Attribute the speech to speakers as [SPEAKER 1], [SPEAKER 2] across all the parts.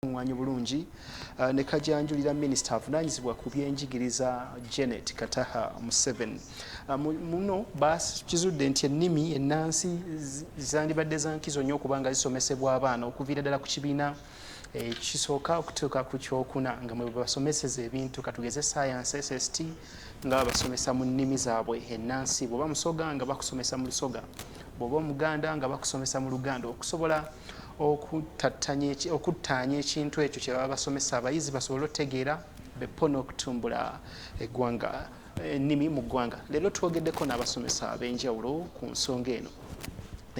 [SPEAKER 1] kakuŋŋaanye obulungi uh, ne kajanjulira minisita avunaanyizibwa ku byenjigiriza Janet Kataha Museveni. Uh, muno bakizudde nti ennimi ennansi zandibadde za nkizo nnyo okuba nga zisomesebwa abaana okuviira ddala ku kibiina ekisooka eh, okutuuka ku kyokuna nga mwe basomeseza ebintu katugeze science sst nga babasomesa mu nnimi zaabwe ennansi bweoba musoga nga bakusomesa mu lusoga bweoba omuganda nga bakusomesa mu luganda okusobola okuttaanya ekintu ekyo kye baba basomesa abayizi basobole otegeera bepo n'okutumbula eggwanga ennimi mu ggwanga leero twogeddeko n'abasomesa ab'enjawulo ku nsonga eno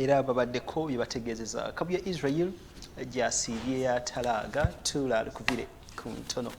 [SPEAKER 1] era babaddeko bye bategeezeza kabu ya israel gyasiibye yatalaaga tula alukubire ku ntono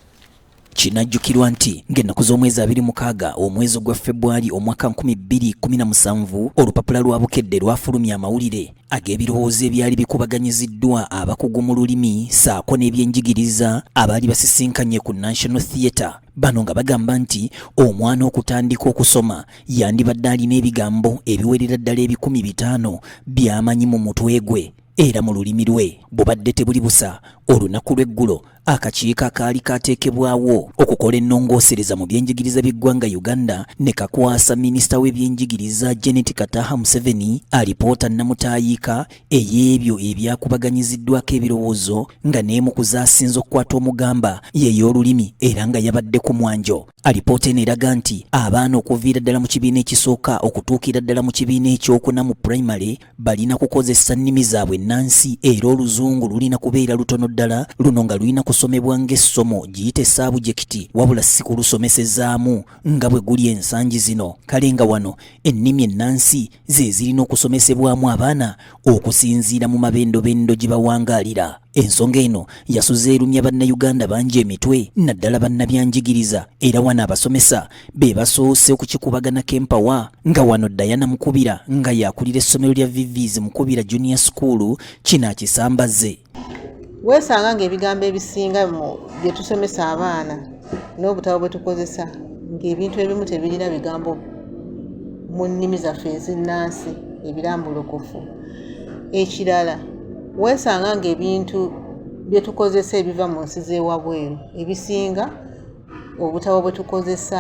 [SPEAKER 1] Kinajjukirwa
[SPEAKER 2] nti ng'ennaku z'omwezi abiri mukaaga omwezi ogwa Febwali omwaka 2017 olupapula lwa Bukedde lwafulumya amawulire ag'ebirowoozo ebyali bikubaganyiziddwa abakugu mu lulimi saako n'ebyenjigiriza abaali basisinkanye ku National Theatre bano nga bagamba nti omwana okutandika okusoma yandibadde alina ebigambo ebiwerera ddala ebikumi bitaano by'amanyi mu mutwe gwe era mu lulimi lwe bubadde tebuli busa olunaku lw'eggulo akakiiko akaali kaateekebwawo okukola ennongoosereza mu byenjigiriza by'eggwanga uganda ne kakwasa minisita w'ebyenjigiriza janet kataha museveni alipoota nnamutaayiika ey'ebyo ebyakubaganyiziddwako ebirowoozo nga n'emu ku zaasinze okukwata omugamba yeey'olulimi era nga yabadde ku mwanjo alipoota eno eraga nti abaana okuviira ddala mu kibiina ekisooka okutuukira ddala mu kibiina ekyokuna mu pulayimale balina kukozesa nnimi zaabwe nnansi era oluzungu lulina kubeera lutono ddala luno nga lulina kusomebwa ng'essomo giyite saabujekiti wabula si kulusomesezaamu nga bwe guli ensangi zino kale nga wano ennimi ennansi ze zirina okusomesebwamu abaana okusinziira mu mabendobendo gye bawangaalira Ensonga eno yasuze erumya bannayuganda bangi emitwe naddala bannabyanjigiriza era wano abasomesa be basoose okukikubaganako empawa nga wano Diana Mukubira nga yakulira essomero lya Vivis Mukubira Junior School kino akisambaze weesanga
[SPEAKER 3] ng'ebigambo ebisinga mu bye tusomesa abaana n'obutabo bwe tukozesa ng'ebintu ebimu tebirina bigambo mu nnimi zaffe ezinnansi ebirambulukufu ekirala weesanga ng'ebintu bye tukozesa ebiva mu nsi z'ewabweru ebisinga obutabo bwe tukozesa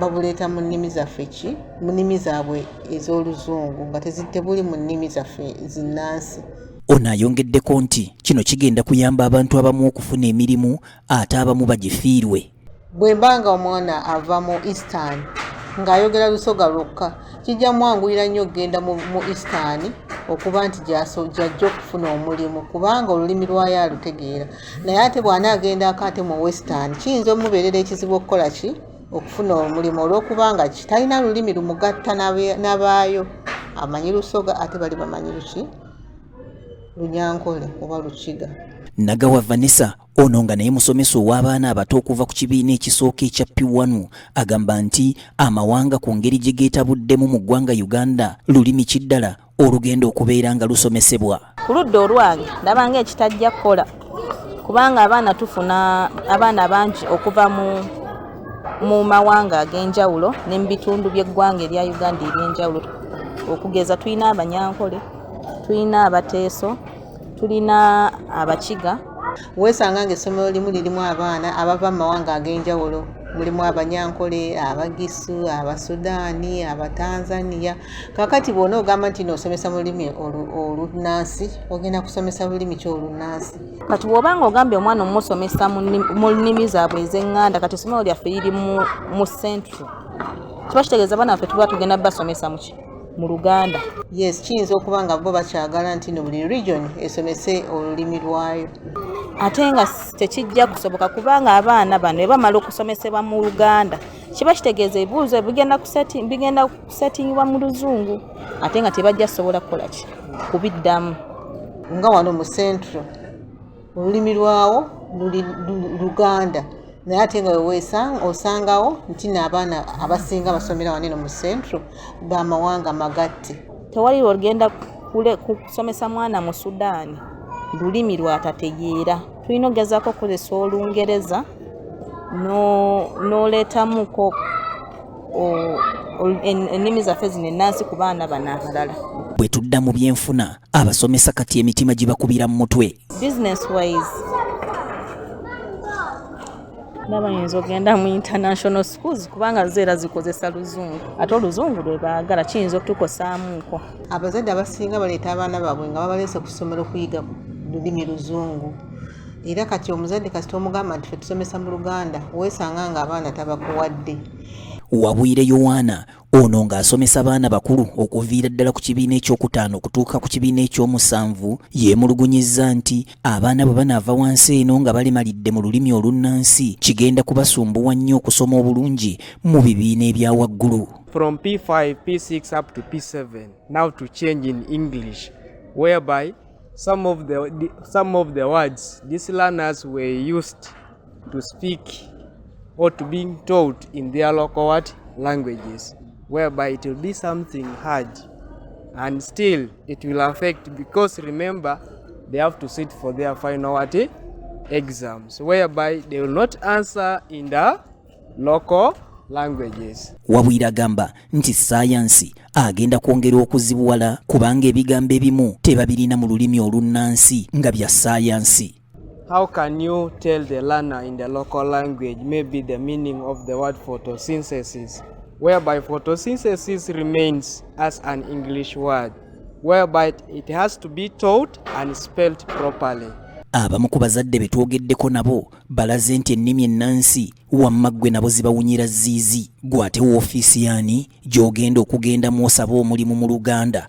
[SPEAKER 3] babuleeta mu nnimi zaffe ki mu nnimi zaabwe ez'oluzungu nga tebuli mu nnimi zaffe zinnansi ono ayongeddeko
[SPEAKER 2] nti kino kigenda kuyamba abantu abamu okufuna emirimu ate abamu bagifiirwe bwe mba nga
[SPEAKER 3] omwana ava mu eastern ng'ayogera lusoga lwokka kijja mwanguyira nnyo okugenda mu eastern okuba nti gyaso gyajja okufuna omulimu kubanga olulimi lwayo alutegeera naye ate bw'ana agendaako ate mu western kiyinza omubeerera ekizibu okukola ki okufuna omulimu olw'okubanga ki talina lulimi lumugatta n'abaayo amanyi lusoga ate bali bamanyi luki lunyankole oba lukiga nagawa
[SPEAKER 2] vanessa Ono nga naye musomesa ow'abaana abato okuva ku kibiina ekisooka ekya Piwanu agamba nti amawanga ku ngeri gye geetabuddemu mu ggwanga Uganda lulimi ki ddala olugenda okubeera nga lusomesebwa. Ku ludda olwange
[SPEAKER 4] ndabanga ekitajja kukola kubanga abaana tufuna abaana bangi okuva mu mu mawanga ag'enjawulo ne mu bitundu by'eggwanga erya Uganda eby'enjawulo okugeza tulina Abanyankole, tulina Abateeso, tulina abakiga weesanga
[SPEAKER 3] ng'essomero limu lirimu abaana abava mu mawanga ag'enjawulo mulimu abanyankole abagisu abasudaani abatanzania kakati bwona ogamba nti nosomesa mululimi olunansi ogenda kusomesa lulimi ki olunansi kati bwoba nga
[SPEAKER 4] ogambye omwana omusomesa mu nnimi zaabwe ezenganda kati esomero lyaffe liri mu central kiba kitegeeza abaana baffe tuba tugenda basomesa muki mu luganda yes kiyinza
[SPEAKER 3] okuba nga bo bakyagala nti no buli region esomese olulimi lwayo ate nga
[SPEAKER 4] tekijja kusoboka kubanga abaana bano ebamala okusomesebwa mu luganda kiba kitegeeza ebibuuzo bigenda kusetingibwa mu luzungu ate nga tebajja sobola kukola ki kubiddamu nga
[SPEAKER 3] wano mu central olulimi lwawo luli luganda naye ate nga wewesanga osangawo nti naabaana abasinga basomera waneno mu central bamawanga magatte tewali lwogenda
[SPEAKER 4] kusomesa mwana mu sudaani lulimi lwatategeera tulina okugezako okukozesa olungereza n'oleetamuko ennimi zaffe zino ennansi ku baana bano abalala bwe tudda mu
[SPEAKER 2] byenfuna abasomesa kati emitima gibakubira mu mutwe business
[SPEAKER 4] wise ndaba yinza ogenda mu international schools kubanga zeera zikozesa luzungu ate oluzungu lwe baagala kiyinza okutukosaamuuko abazadde abasinga
[SPEAKER 3] baleeta abaana baabwe nga babaleese ku ssomero okuyiga lulimi luzungu era kati omuzadde kasita omugamba nti fetusomesa mu luganda weesanga nga abaana tabakuwadde wabwire
[SPEAKER 2] yowaana Ono ng'asomesa baana bakulu okuviira ddala ku kibiina ekyokutaano okutuuka ku kibiina ekyomusanvu yeemulugunyizza nti abaana bwe banaava wansi eno nga balemalidde mu lulimi olunnansi kigenda kubasumbuwa nnyo okusoma obulungi mu bibiina ebya waggulu From P5, P6 up
[SPEAKER 5] to P7 now to change in English whereby some of the, some of the words these learners were used to speak or to being taught in their local what languages whereby it will be something hard and still it will affect because remember they have to sit for their final what eh, exams whereby they will not answer in the local languages. Wabwire agamba
[SPEAKER 2] nti sayansi agenda kwongera okuzibuwala kubanga ebigambo ebimu tebabirina mu lulimi olunnansi nga bya sayansi. How can
[SPEAKER 5] you tell the learner in the local language maybe the meaning of the word photosynthesis, whereby photosynthesis remains as an English word, whereby it has to be taught and spelled properly. abamu ku
[SPEAKER 2] bazadde be twogeddeko nabo balaze nti ennimi ennansi wamma ggwe nabo zibawunyira ziizi gwe ate woofiisi yaani gy'ogenda okugenda mw'osaba omulimu mu luganda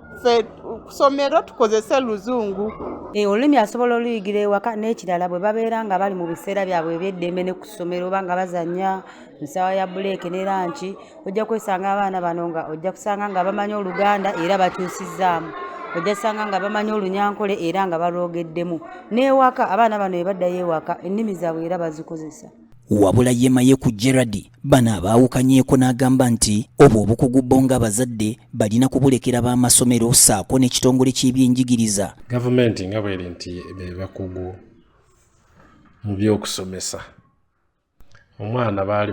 [SPEAKER 6] ffe kusomero tukozese luzungu eh, olulimi asobola
[SPEAKER 7] oluyigira ewaka n'ekirala bwe babeera nga bali mu biseera byabwe ebyeddembe ne ku ssomero oba nga bazanya nsaawa ya buleeke ne lanki ojja kwesanga abaana bano nga ojja kusanga nga bamanyi oluganda era bakyusizzaamu ojja kusanga nga bamanyi olunyankole era nga balwogeddemu n'ewaka abaana bano ebaddayo ewaka ennimi zaabwe era bazikozesa wabula
[SPEAKER 2] yemaye ku gerard Bano abaawukanyeeko n'agamba nti obwo obukugu bo ng'abazadde balina kubulekera b'amasomero ssaako n'ekitongole ky'ebyenjigiriza. Gavumenti nga
[SPEAKER 8] bweri nti be bakugu mu by'okusomesa omwana baali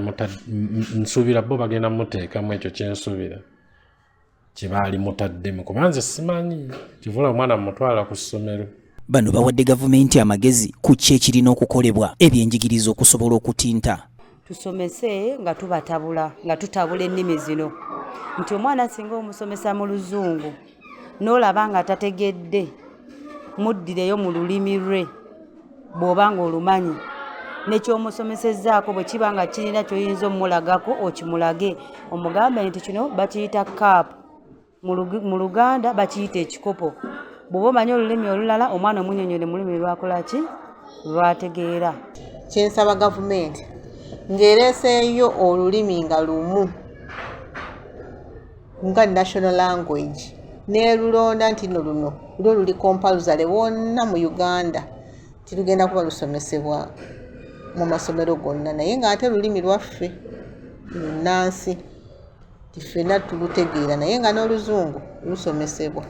[SPEAKER 8] nsuubira bo bagenda muteekamu ekyo kyensuubira kye baali mutaddemu kuba nze simanyi kivula omwana mumutwala ku ssomero bano bawadde gavumenti amagezi ku ki ekirina okukolebwa ebyenjigiriza okusobola okutinta tusomese
[SPEAKER 7] nga tubatabula nga tutabula ennimi zino nti omwana singa omusomesa mu luzungu n'olaba nga tategedde muddireyo mu lulimi lwe bw'oba ng'olumanyi nekyomusomesezzaako bwe kiba nga kirina kyoyinza omulagako okimulage omugambe nti kino bakiyita kaapu mu luganda bakiyita ekikopo bw'oba omanyi olulimi olulala omwana omunyonyole mu lulimi lwakolaki lwategeera kyensaba
[SPEAKER 3] gavumenti ng'ereeseeyo olulimi nga lumu nga national language nelulonda nti no luno lwo luli compalsale wonna mu uganda tilugenda kuba lusomesebwa mu masomero gonna naye nga ate lulimi lwaffe lunansi tifena tulutegeera naye nga n'oluzungu lusomesebwa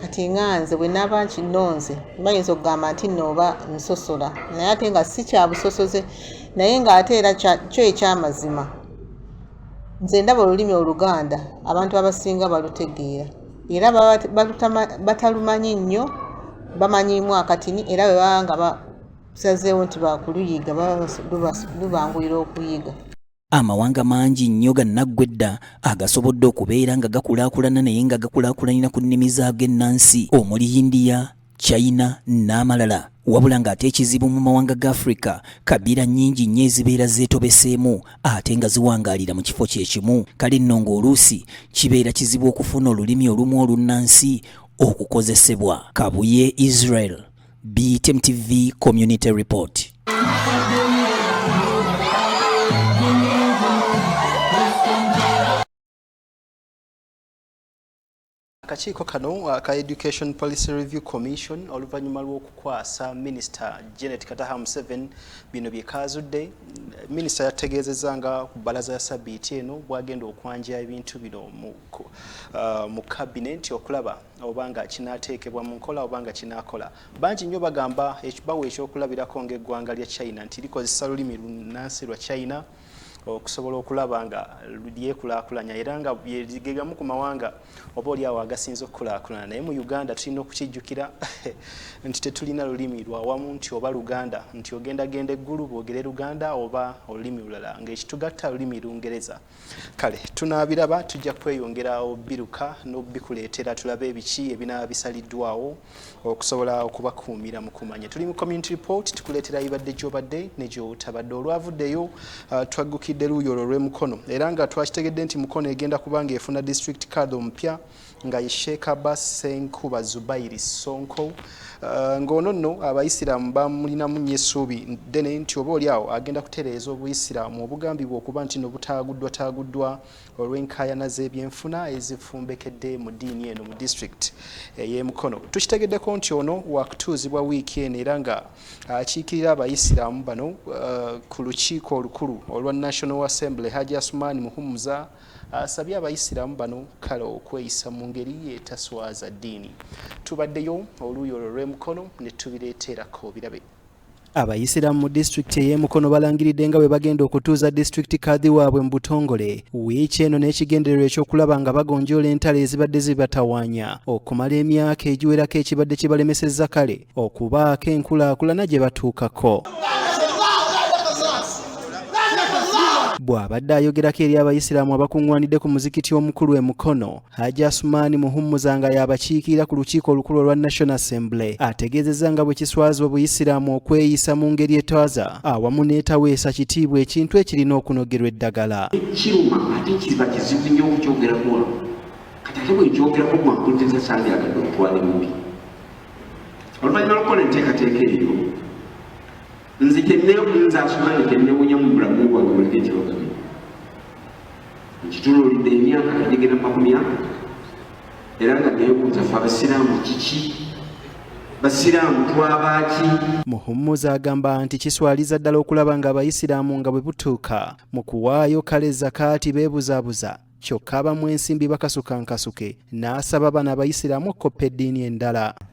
[SPEAKER 3] kati nga nze bwe naaba nkinonze bayinza okugamba nti nooba nsosola naye ate nga si kyabusosoze naye ng'ate era kyo ekyamazima Nze ndaba olulimi Oluganda abantu abasinga balutegeera era batalumanyi nnyo bamanyiimu akatini era bwe baba nga basazeewo nti baakuluyiga lubanguyira okuyiga. Amawanga
[SPEAKER 2] mangi nnyo gannaggwa edda agasobodde okubeera nga gakulaakulana naye nga gakulaakulanira ku nnimi zaago ennansi omuli Yindiya, China n'amalala wabula ng'ate ekizibu mu mawanga ga Afrika kabiira nnyingi nnyo ezibeera zeetobeseemu ate nga ziwangaalira mu kifo kye kimu kale nno ng'oluusi kibeera kizibu okufuna olulimi olumu olunnansi okukozesebwa kabuye Israel BTM TV Community Report
[SPEAKER 1] Akakiiko kano aka Education Policy Review Commission oluvannyuma lw'okukwasa minisita Janet Kataha Museveni bino bye kaazudde. Minisita yategeezezza nga ku bbalaza ya sabiiti eno bwagenda okwanja ebintu bino mu uh, kabinenti okulaba obanga kinaateekebwa mu nkola obanga kinaakola. Bangi nnyo bagamba bawa ekyokulabirako ng'eggwanga lya China nti likozesa lulimi lunnansi lwa China. okusobola okulaba nga lyekulakulanya era nga gegamu ku mawanga oba oli awo agasinza okukulakulana naye mu uganda tulina okukijjukira nti tetulina lulimi lwawamu nti oba luganda nti ogenda genda eggulu bwogere luganda oba olulimi lulala ngaekitugatta lulimi lungereza kale tunaabiraba tujja kweyongera obiruka n'obikuleetera tulabe ebiki ebinaba bisaliddwawo okusobola okubakuumira mu kumanya tuli mu community report tukuleetera ibadde gyobadde ne gyotabadde olwavuddeyo uh, twaggukidde luuyi olwo olw'emukono era nga twakitegedde nti mukono egenda kuba nga efuna district card omupya nga ye sheekh abbas senkuba zubairi sonko uh, ng'ono nno abayisiraamu bamulinamu nnyo essuubi ddene nti oba oli awo agenda kutereeza obuyisiraamu obugambibwa okuba nti no butaaguddwataaguddwa taaguddwa olw'enkaayana z'ebyenfuna ezifumbekedde mu ddiini eno mu disitulikiti ey'emukono tukitegeddeko nti ono wakutuuzibwa wiiki eno era nga akiikirira abayisiraamu bano uh, ku lukiiko olukulu olwa national assembly haji asumaani muhumuza asabye abayisiraamu bano kale okweyisa mu ngeri etaswaza ddiini tubaddeyo oluuyi olwo lw'emukono ne tubireeterako birabe Abayisiraamu mu disitulikiti ey'e Mukono balangiridde nga bwe bagenda okutuuza disitulikiti kadhi waabwe mu butongole wiiki eno n'ekigendererwa ekyokulaba nga bagonjoola entalo ezibadde zibatawaanya okumala emyaka egiwerako ekibadde kibalemesezza kale okubaako enkulaakulana gye batuukako. bw'abadde ayogerako eri abayisiraamu abakuŋŋwanidde ku muzikiti omukulu e Mukono Haji Asumani Muhummuza nga y'abakiikirira ku lukiiko olukulu olwa National Assembly ategeezezza nga bwe kiswaza obuyisiraamu okweyisa mu ngeri etwaza awamu n'etaweesa kitiibwa ekintu ekirina okunogerwa eddagala. Kiruma ate
[SPEAKER 9] kiba kizibu nnyo okukyogerako wano kati ate bwekyogerako gwakuntesa sandyagadde okutwala emubi oluvannyuma lwokukola enteekateeka eyo nze kyenze asumaani kyennewunya mu bulamu bwange muleke ekibagamye nkituluulidde emyaka kagigenda makumi ako era nga nebuuza fe abasiraamu kiki basiraamu twabaaki muhummuza
[SPEAKER 1] agamba nti kiswaliza ddala okulaba nga abayisiraamu nga bwe butuuka mu kuwaayo kale zakaati beebuzaabuza kyokka abamu ensimbi bakasuka nkasuke n'asaba bana abayisiraamu okukoppa eddiini endala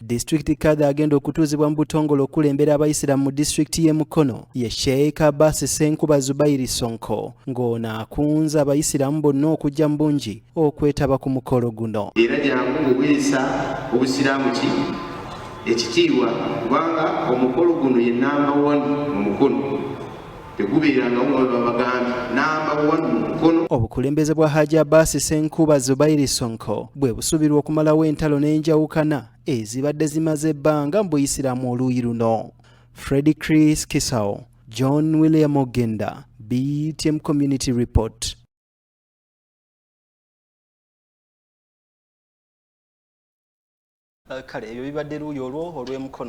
[SPEAKER 9] Disitulikiti kadha
[SPEAKER 1] agenda okutuuzibwa mu butongole okulembera abayisiramu mu disitulikiti y'e Mukono ye Sheikh Abbas Ssenkuba Zubairi Sonko ng'ono akunze abayisiramu bonna okujja mu bungi okwetaba ku mukolo guno. Era gyangu buweesa
[SPEAKER 9] obusiraamu ki ekitiibwa kubanga omukolo guno ye namba wani mu Mukono. tegubeerangawo nga webabagambye namba
[SPEAKER 1] one mu mukono obukulembeze bwa haji abasi senkuba zubairi sonko bwe busubirwa okumalawo entalo n'enjawukana ezibadde zimaze ebbanga mu buyisiraamu oluuyi luno fredi chris kisao john william ogenda btm community report kale ebyo bibadde luuyi olwo olw'emukono